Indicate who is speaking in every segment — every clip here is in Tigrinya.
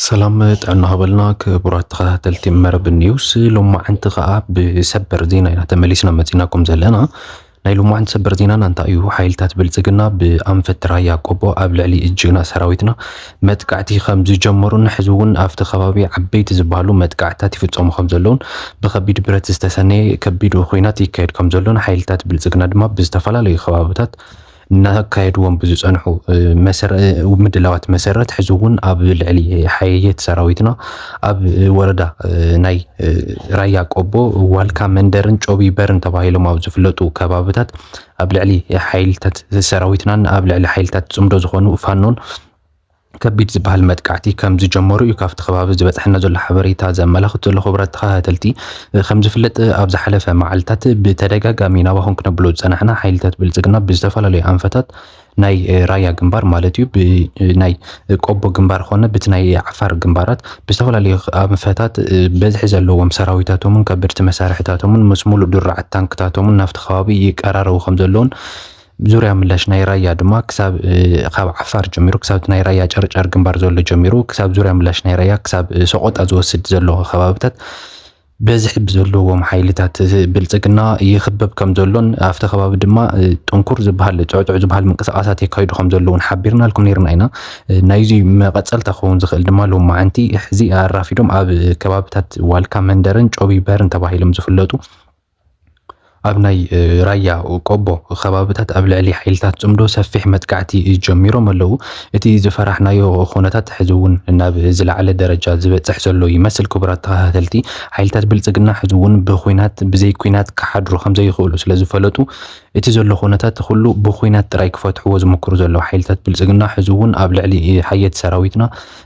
Speaker 1: ሰላም ጥዕና ሃበልና ክቡራት ተኸታተልቲ መረብ ኒውስ ሎማዕንቲ ከዓ ብሰበር ዜና ኢና ተመሊስና መፂናኩም ዘለና ናይ ሎማዕንቲ ሰበር ዜናና እንታይ እዩ ሓይልታት ብልፅግና ብኣንፈት ራያ ቆቦ ኣብ ልዕሊ ጅግና ሰራዊትና መጥቃዕቲ ከም ዝጀመሩን ሕዚ እውን ኣብቲ ከባቢ ዓበይቲ ዝበሃሉ መጥቃዕትታት ይፍፀሙ ከም ዘለዉን ብከቢድ ብረት ዝተሰነየ ከቢድ ኹናት ይካየድ ከም ዘሎን ሓይልታት ብልፅግና ድማ ብዝተፈላለዩ ከባብታት እናካየድዎም ብዝፀንሑ ምድላዋት መሰረት ሕዚ እውን ኣብ ልዕሊ ሓየት ሰራዊትና ኣብ ወረዳ ናይ ራያ ቆቦ ዋልካ መንደርን ጮቢ በርን ተባሂሎም ኣብ ዝፍለጡ ከባብታት ኣብ ልዕሊ ሓይልታት ሰራዊትናን ኣብ ልዕሊ ሓይልታት ፅምዶ ዝኾኑ ፋኖን ከቢድ ዝበሃል መጥቃዕቲ ከም ዝጀመሩ እዩ ካብቲ ከባቢ ዝበፅሐና ዘሎ ሓበሬታ ዘመላኽት ዘሎ። ክቡራት ተኸታተልቲ ከም ዝፍለጥ ኣብ ዝሓለፈ መዓልታት ብተደጋጋሚ ናባኹም ክነብሎ ዝፀናሕና ሓይልታት ብልፅግና ብዝተፈላለዩ ኣንፈታት ናይ ራያ ግንባር ማለት እዩ ብናይ ቆቦ ግንባር ኾነ ብቲ ናይ ዓፋር ግንባራት ብዝተፈላለዩ ኣንፈታት በዝሒ ዘለዎም ሰራዊታቶምን ከበድቲ መሳርሕታቶምን ምስ ሙሉእ ድራዓት ታንክታቶምን ናብቲ ከባቢ ይቀራረቡ ከም ዘለውን ዙርያ ምላሽ ናይ ራያ ድማ ክሳብ ካብ ዓፋር ጀሚሩ ክሳብ ናይ ራያ ጨርጨር ግንባር ዘሎ ጀሚሩ ክሳብ ዙርያ ምላሽ ናይ ራያ ክሳብ ሰቆጣ ዝወስድ ዘሎ ከባብታት በዝሒ ብዘለዎም ሓይልታት ብልፅግና ይኽበብ ከም ዘሎን ኣብቲ ከባቢ ድማ ጥንኩር ዝበሃል ጥዑጥዕ ዝበሃል ምንቅስቓሳት የካይዱ ከም ዘለውን ሓቢርናልኩም ነይርና ኢና። ናይዚ መቐፀልታ ክኸውን ዝኽእል ድማ ሎማዕንቲ ሕዚ ኣራፊዶም ኣብ ከባብታት ዋልካ መንደርን ጮቢበርን ተባሂሎም ዝፍለጡ ኣብ ናይ ራያ ቆቦ ከባብታት ኣብ ልዕሊ ሓይልታት ጽምዶ ሰፊሕ መጥቃዕቲ ጀሚሮም ኣለዉ። እቲ ዝፈራሕናዮ ኹነታት ሕዚ እውን ናብ ዝለዓለ ደረጃ ዝበጽሕ ዘሎ ይመስል። ክቡራት ተኸታተልቲ፣ ሓይልታት ብልጽግና ሕዚ እውን ብኹናት ብዘይ ኩናት ክሓድሩ ከምዘይኽእሉ ስለዝፈለጡ እቲ ዘሎ ኹነታት ኹሉ ብኹናት ጥራይ ክፈትሕዎ ዝምክሩ ዘለዉ ሓይልታት ብልጽግና ሕዚ እውን ኣብ ልዕሊ ሓየት ሰራዊትና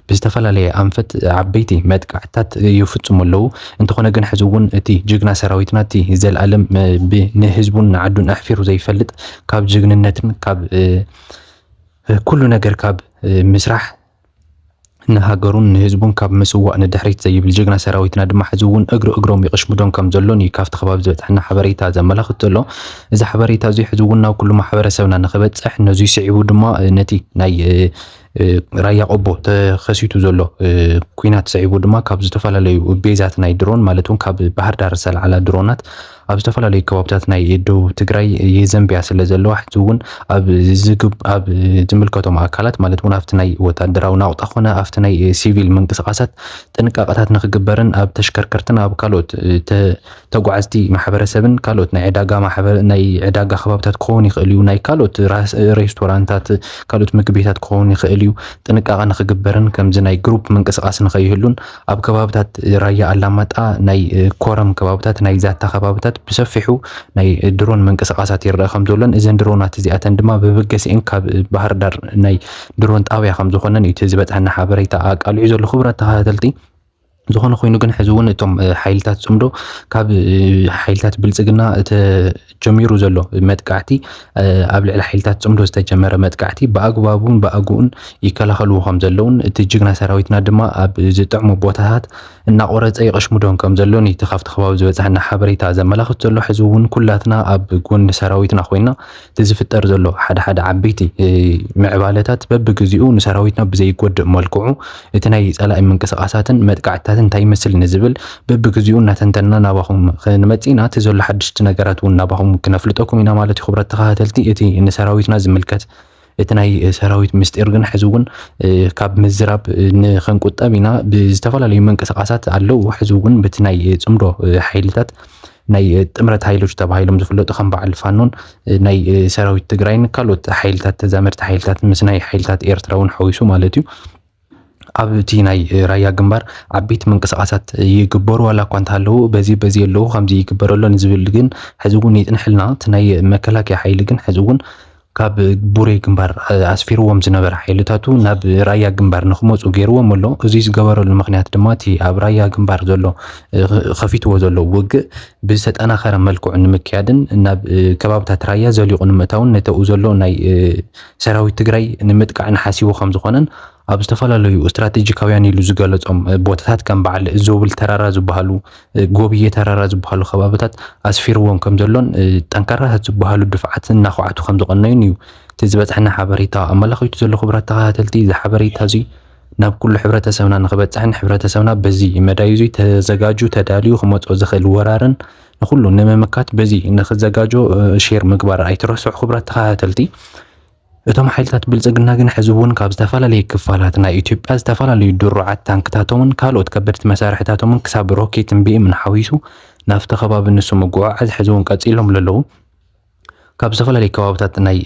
Speaker 1: ብዝተፈላለየ ኣንፈት ዓበይቲ መጥቃዕትታት ይፍፅሙ ኣለዉ። እንተኾነ ግን ሕዚ እውን እቲ ጅግና ሰራዊትና እቲ ዘልኣለም ንህዝቡን ንዓዱን ኣሕፊሩ ዘይፈልጥ ካብ ጅግንነትን ካብ ኩሉ ነገር ካብ ምስራሕ ንሃገሩን ንህዝቡን ካብ ምስዋእ ንድሕሪት ዘይብል ጅግና ሰራዊትና ድማ ሕዚ እውን እግሪ እግሮም ይቕሽምዶም ከም ዘሎን እዩ ካብቲ ከባቢ ዝበፅሐና ሓበሬታ ዘመላኽት ዘሎ እዚ ሓበሬታ እዚ ሕዚ እውን ናብ ኩሉ ማሕበረሰብና ንክበፅሕ ነዙይ ስዒቡ ድማ ነቲ ናይ ራያ ቆቦ ተኸሲቱ ዘሎ ኩናት ሰዒቡ ድማ ካብ ዝተፈላለዩ ቤዛት ናይ ድሮን ማለት እውን ካብ ባህር ዳር ዝተለዓላ ድሮናት ኣብ ዝተፈላለዩ ከባብታት ናይ ደቡብ ትግራይ የዘንብያ ስለ ዘለዋ ሕዚ እውን ኣብ ዝምልከቶም ኣካላት ማለት እውን ኣብቲ ናይ ወታደራዊ ናቑጣ ኮነ ኣብቲ ናይ ሲቪል ምንቅስቓሳት ጥንቃቐታት ንክግበርን ኣብ ተሽከርከርትን ኣብ ካልኦት ተጓዓዝቲ ማሕበረሰብን ካልኦት ናይ ዕዳጋ ማሕበረ ናይ ዕዳጋ ከባብታት ክኸውን ይኽእል እዩ። ናይ ካልኦት ሬስቶራንታት ካልኦት ምግቢ ቤታት ክኸውን ይኽእል እዩ። ጥንቃቐ ንክግበርን ከምዚ ናይ ግሩፕ ምንቅስቓስ ንኸይህሉን ኣብ ከባብታት ራያ ኣላማጣ ናይ ኮረም ከባብታት ናይ ዛታ ከባብታት ብሰፊሑ ናይ ድሮን ምንቅስቓሳት ይረአ ከም ዘሎን እዘን ድሮናት እዚኣተን ድማ ብበገሲኤን ካብ ባህርዳር ናይ ድሮን ጣብያ ከም ዝኾነን እዩ እቲ ዝበፅሐና ሓበሬታ ኣቃሊዑ ዘሎ። ክቡራት ተኸታተልቲ ዝኾነ ኮይኑ ግን ሕዚ እውን እቶም ሓይልታት ፅምዶ ካብ ሓይልታት ብልፅግና ተጀሚሩ ዘሎ መጥቃዕቲ ኣብ ልዕሊ ሓይልታት ፅምዶ ዝተጀመረ መጥቃዕቲ ብኣግባቡን ብኣግኡን ይከላኸልዎ ከም ዘለውን እቲ ጅግና ሰራዊትና ድማ ኣብ ዝጥዕሙ ቦታታት እናቆረፀ ይቐሽሙዶን ከም ዘሎን እቲ ካብቲ ከባቢ ዝበፅሐና ሓበሬታ ዘመላኽት ዘሎ ሕዚ እውን ኩላትና ኣብ ጎኒ ሰራዊትና ኮይና እቲ ዝፍጠር ዘሎ ሓደ ሓደ ዓበይቲ ምዕባለታት በብግዜኡ ንሰራዊትና ብዘይጎድእ መልክዑ እቲ ናይ ጸላኢ ምንቅስቓሳትን መጥቃዕትታትን እንታይ ይመስል ንዝብል በብግዜኡ እናተንተንና ናባኹም ክንመጽእ ኢና። እቲ ዘሎ ሓድሽቲ ነገራት እውን ናባኹም ክነፍልጠኩም ኢና ማለት እዩ። ክብረት ተኸታተልቲ እቲ ንሰራዊትና ዝምልከት እቲ ናይ ሰራዊት ምስጢር ግን ሕዚ እውን ካብ ምዝራብ ንክንቁጠብ ኢና። ብዝተፈላለዩ ምንቅስቓሳት ኣለዉ። ሕዚ እውን በቲ ናይ ጽምዶ ሓይልታት ናይ ጥምረት ሓይሎች ተባሂሎም ዝፍለጡ ከም በዓል ፋኖን ናይ ሰራዊት ትግራይን ካልኦት ሓይልታት ተዛመድቲ ሓይልታት ምስ ናይ ሓይልታት ኤርትራ እውን ሓዊሱ ማለት እዩ ኣብቲ ናይ ራያ ግንባር ዓበይቲ ምንቅስቃሳት ይግበሩ ዋላ እኳ እንተሃለዉ በዚ በዚ ኣለዉ ከምዚ ይግበረሎን ዝብል ግን ሕዚ እውን ይፅንሐልና እቲ ናይ መከላከያ ሓይሊ ግን ሕዚ እውን ካብ ቡሬ ግንባር ኣስፊርዎም ዝነበረ ሓይልታቱ ናብ ራያ ግንባር ንክመፁ ገይርዎም ኣሎ። እዚ ዝገበረሉ ምክንያት ድማ እቲ ኣብ ራያ ግንባር ዘሎ ከፊትዎ ዘሎ ውግእ ብዝተጠናኸረ መልክዑ ንምክያድን ናብ ከባብታት ራያ ዘሊቑ ንምእታውን ነተኡ ዘሎ ናይ ሰራዊት ትግራይ ንምጥቃዕን ሓሲቡ ከምዝኾነን ኣብ ዝተፈላለዩ ስትራቴጂካውያን ኢሉ ዝገለጾም ቦታታት ከም በዓል ዞብል ተራራ ዝበሃሉ ጎብዬ ተራራ ዝበሃሉ ከባብታት ኣስፊርዎም ከም ዘሎን ጠንካራታት ዝበሃሉ ድፍዓት እናኳዓቱ ከም ዝቐነዩን እዩ እቲ ዝበጽሐና ሓበሬታ ኣመላኺቱ ዘሎ ክቡራት ተኸታተልቲ እዚ ሓበሬታ እዚ ናብ ኩሉ ሕብረተሰብና ንክበጽሕን ሕብረተሰብና በዚ መዳይ እዙይ ተዘጋጁ ተዳልዩ ክመጽኦ ዝኽእል ወራርን ንኩሉ ንምምካት በዚ ንክዘጋጆ ሼር ምግባር ኣይትረስዑ ክቡራት ተኸታተልቲ እቶም ሓይልታት ብልጽግና ግን ሕዚ እውን ካብ ዝተፈላለዩ ክፋላት ናይ ኢትዮጵያ ዝተፈላለዩ ድሩዓት ታንክታቶምን ካልኦት ከበድቲ መሳርሕታቶምን ክሳብ ሮኬትን ቢኤምን ሓዊሱ ናብቲ ከባቢ ንሱ ምጉዕዓዝ ሕዚ እውን ቀጺሎምሉ ኣለዉ። ካብ ዝተፈላለዩ ከባብታት ናይ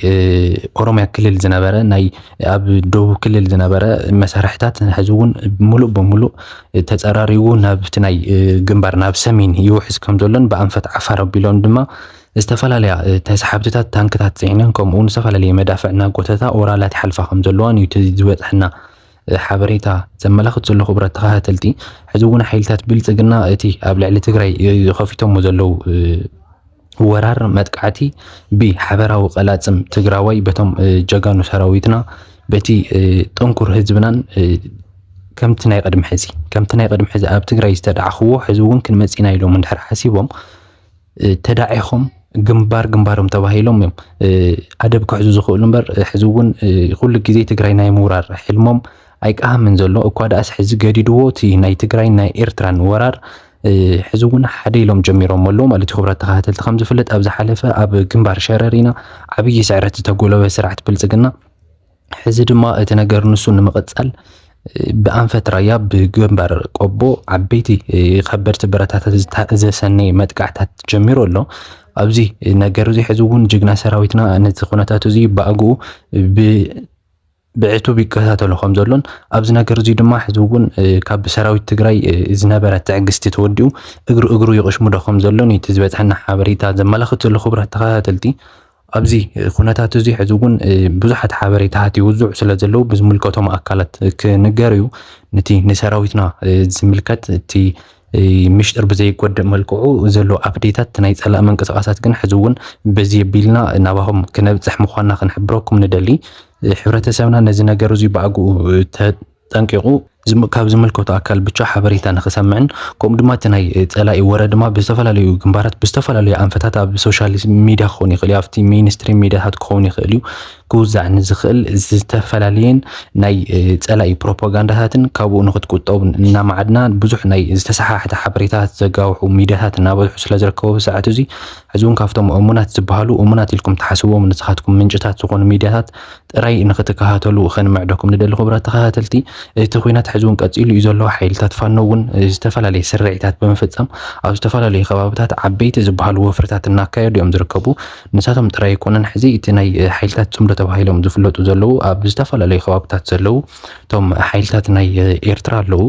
Speaker 1: ኦሮምያ ክልል ዝነበረ ናይ ኣብ ደቡብ ክልል ዝነበረ መሳርሕታት ሕዚ እውን ሙሉእ በሙሉእ ተፀራሪቡ ናብቲ ናይ ግንባር ናብ ሰሜን ይውሕዝ ከም ዘሎን ብኣንፈት ዓፋር ኣቢሎም ድማ ዝተፈላለያ ተሰሓብቲታት ታንክታት ጽዒነን ከምኡውን ዝተፈላለየ መዳፍዕ እናጎተታ ኦራላት ይሓልፋ ከም ዘለዋን እዩ እቲ ዝበጽሐና ሓበሬታ ዘመላኽት ዘሎ ክቡራት ተኸታተልቲ ሕዚ እውን ሓይልታት ብልፅግና እቲ ኣብ ልዕሊ ትግራይ ከፊቶሞ ዘለው ወራር መጥቃዕቲ ብሓበራዊ ቀላፅም ትግራዋይ በቶም ጀጋኑ ሰራዊትና በቲ ጥንኩር ህዝብናን ከምቲ ናይ ቅድሚ ሕዚ ከምቲ ናይ ቅድሚ ሕዚ ኣብ ትግራይ ዝተደዓኽዎ ሕዚ እውን ክንመፅና ኢሎም እንድሕር ሓሲቦም ተዳዒኹም ግንባር ግንባሮም ተባሂሎም እዮም ኣደብ ክሕዙ ዝኽእሉ እምበር ሕዚ እውን ኩሉ ግዜ ትግራይ ናይ ምውራር ሕልሞም ኣይቀሃምን ዘሎ እኳ ደኣስ ሕዚ ገዲድዎ እቲ ናይ ትግራይ ናይ ኤርትራን ወራር ሕዚ እውን ሓደ ኢሎም ጀሚሮም ኣለዉ ማለት እዩ ክብራት ተኸታተልቲ ከም ዝፍለጥ ኣብ ዝሓለፈ ኣብ ግንባር ሸረሪና ዓብዪ ስዕረት ዝተጎለበ ስርዓት ብልፅግና ሕዚ ድማ እቲ ነገር ንሱ ንምቕጻል ብኣንፈት ራያ ብግንባር ቆቦ ዓበይቲ ከበድቲ ብረታታት ዘሰነየ መጥቃዕታት ጀሚሩ ኣሎ። ኣብዚ ነገር እዚ ሕዚ እውን ጅግና ሰራዊትና ነዚ ኩነታት እዚ ብኣግኡ ብዕቱብ ይከታተሎ ከም ዘሎን ኣብዚ ነገር እዚ ድማ ሕዚ እውን ካብ ሰራዊት ትግራይ ዝነበረ ትዕግስቲ ተወዲኡ እግሪ እግሩ ይቕሽሙዶ ከም ዘሎን እቲ ዝበፅሐና ሓበሬታ ዘመላኽት ዘሎ ክቡራት ተኸታተልቲ ኣብዚ ኩነታት እዚ ሕዚ እውን ብዙሓት ሓበሬታታት ይውዝዑ ስለ ዘለዉ ብዝምልከቶም ኣካላት ክንገር እዩ ነቲ ንሰራዊትና ዝምልከት እቲ ምሽጥር ብዘይጎድእ መልክዑ ዘሎ ኣፕዴታት ናይ ጸላእ ምንቅስቃሳት ግን ሕዚ እውን በዚ የቢልና ናባኹም ክነብጽሕ ምዃንና ክንሕብረኩም ንደሊ። ሕብረተሰብና ነዚ ነገር እዙይ ብኣግኡ ጠንቂቑ ካብ ዝምልከቶ ኣካል ብቻ ሓበሬታ ንኽሰምዕን ከምኡ ድማ እቲ ናይ ፀላኢ ወረ ድማ ብዝተፈላለዩ ግንባራት ብዝተፈላለዩ ኣንፈታት ኣብ ሶሻል ሚዲያ ክኸውን ይኽእል እዩ ኣብቲ ሚኒስትሪም ሚዲያታት ክኸውን ይኽእል እዩ ክውዛዕ ንዝኽእል ዝተፈላለየን ናይ ፀላኢ ፕሮፓጋንዳታትን ካብኡ ንክትቁጠቡ እናማዓድና ብዙሕ ናይ ዝተሰሓሕተ ሓበሬታታት ዘጋውሑ ሚዲያታት እናበዝሑ ስለ ዝርከቡ ብሰዓት እዚ ሕዚ እውን ካብቶም እሙናት ዝበሃሉ እሙናት ኢልኩም ትሓስብዎም ንስኻትኩም ምንጭታት ዝኾኑ ሚዲያታት ጥራይ ንክትከታተሉ ከንምዕደኩም ንደሊ ክቡራት ተኸታተልቲ። እቲ ኹናት ሕዚ ውን ቀፂሉ ዩ ዘሎ። ሓይልታት ፋኖ ውን ዝተፈላለየ ስርዒታት ብምፍፃም ኣብ ዝተፈላለዩ ከባብታት ዓበይቲ ዝበሃሉ ወፍርታት እናካየዱ ዮም ዝርከቡ። ንሳቶም ጥራይ ኣይኮኑን ሕዚ እቲ ናይ ሓይልታት ፅምዶ ተባሂሎም ዝፍለጡ ዘለዉ ኣብ ዝተፈላለዩ ከባብታት ዘለዉ ቶም ሓይልታት ናይ ኤርትራ ኣለዉ፣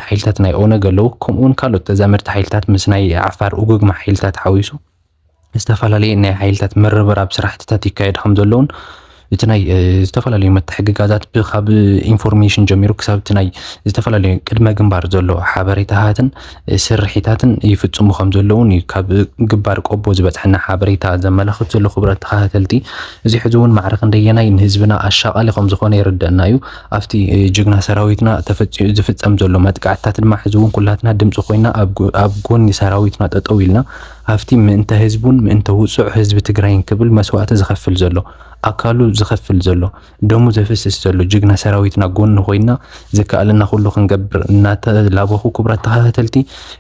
Speaker 1: ሓይልታት ናይ ኦነግ ኣለዉ ከምኡ ውን ካልኦት ተዛመድቲ ሓይልታት ምስ ናይ ዓፋር ኡግግማ ሓይልታት ሓዊሱ። ዝተፈላለዩ ናይ ሓይልታት ምርብራብ ስራሕትታት ይካየድ ከም ዘለውን እቲ ናይ ዝተፈላለዩ መተሕግጋዛት ካብ ኢንፎርሜሽን ጀሚሩ ክሳብ እቲ ናይ ዝተፈላለዩ ቅድመ ግንባር ዘሎ ሓበሬታታትን ስርሒታትን ይፍፅሙ ከም ዘለውን እዩ ካብ ግንባር ቆቦ ዝበፅሐና ሓበሬታ ዘመላኽት ዘሎ ክብረት ተኸታተልቲ እዚ ሕዚ እውን ማዕረ ክንደየናይ ንህዝብና ኣሻቃሊ ከም ዝኾነ ይርደና እዩ ኣብቲ ጅግና ሰራዊትና ተፈፂሙ ዝፍፀም ዘሎ መጥቃዕትታት ድማ ሕዚ እውን ኩላትና ድምፂ ኮይና ኣብ ጎኒ ሰራዊትና ጠጠው ኢልና ሃፍቲ ምእንተ ህዝቡን ምእንተ ውጹዕ ህዝቢ ትግራይን ክብል መስዋእቲ ዝኸፍል ዘሎ፣ ኣካሉ ዝኸፍል ዘሎ፣ ደሙ ዘፍስስ ዘሎ ጅግና ሰራዊትና ጎኑ ኮይንና ዝከኣለና ኩሉ ክንገብር እናተላበኹ ክቡራት ተኸታተልቲ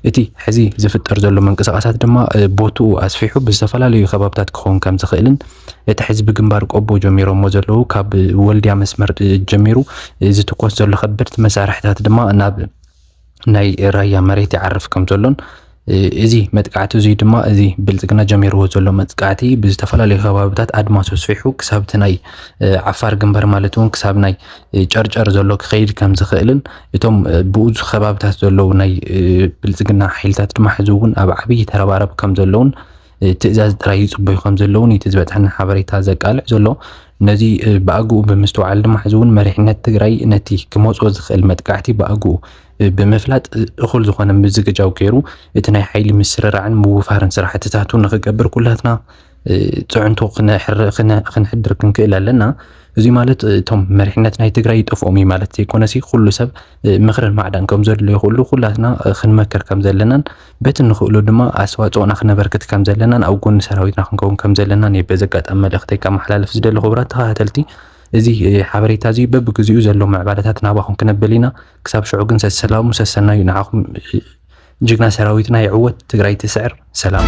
Speaker 1: እቲ ሕዚ ዝፍጠር ዘሎ ምንቅስቓሳት ድማ ቦትኡ ኣስፊሑ ብዝተፈላለዩ ከባብታት ክኸውን ከም ዝኽእልን እቲ ሕዚ ብግንባር ቆቦ ጀሚሮሞ ዘለዉ ካብ ወልድያ መስመር ጀሚሩ ዝትኮስ ዘሎ ከበድቲ መሳርሕታት ድማ ናብ ናይ ራያ መሬት ይዓርፍ ከም ዘሎን እዚ መጥቃዕቲ እዙይ ድማ እዚ ብልፅግና ጀሚርዎ ዘሎ መጥቃዕቲ ብዝተፈላለዩ ከባብታት ኣድማስ ኣስፊሑ ክሳብ እቲ ናይ ዓፋር ግንባር ማለት እውን ክሳብ ናይ ጨርጨር ዘሎ ክኸይድ ከም ዝኽእልን እቶም ብኡዙ ከባብታት ዘለዉ ናይ ብልፅግና ሓይልታት ድማ ሕዚ እውን ኣብ ዓብዪ ተረባረብ ከም ዘለውን ትእዛዝ ጥራይ ይጽበዩ ከም ዘለዉ ነቲ ዝበጽሐና ሓበሬታ ዘቃልዕ ዘሎ ነዚ ብኣግኡ ብምስትውዓል ድማ ሕዚ እውን መሪሕነት ትግራይ ነቲ ክመጾ ዝኽእል መጥቃዕቲ ብኣግኡ ብምፍላጥ እኹል ዝኾነ ምዝግጃው ገይሩ እቲ ናይ ሓይሊ ምስርራዕን ምውፋርን ስራሕትታቱ ንኽገብር ኩላትና ፅዕንቶ ክንሕድር ክንክእል ኣለና እዚ ማለት እቶም መሪሕነት ናይ ትግራይ ይጠፍኦም እዩ ማለት ዘይኮነሲ ኩሉ ሰብ ምኽርን ማዕዳን ከም ዘድልዮ ኩሉ ኩላትና ክንመክር ከም ዘለናን በቲ እንኽእሎ ድማ ኣስተዋፅኦና ክነበርክት ከም ዘለናን ኣብ ጎኒ ሰራዊትና ክንከውን ከም ዘለናን እየ በዚ ኣጋጣሚ መልእኽተይ ከመሓላልፍ ዝደሊ ክቡራት ተኸታተልቲ እዚ ሓበሬታ እዚ በብግዚኡ ዘሎ ምዕባለታት ናባኹም ክነብል ኢና ክሳብ ሽዑ ግን ሰሰላሙ ሰሰናዩ ንዓኹም ጅግና ሰራዊትና ይዕወት ትግራይ ትስዕር ሰላም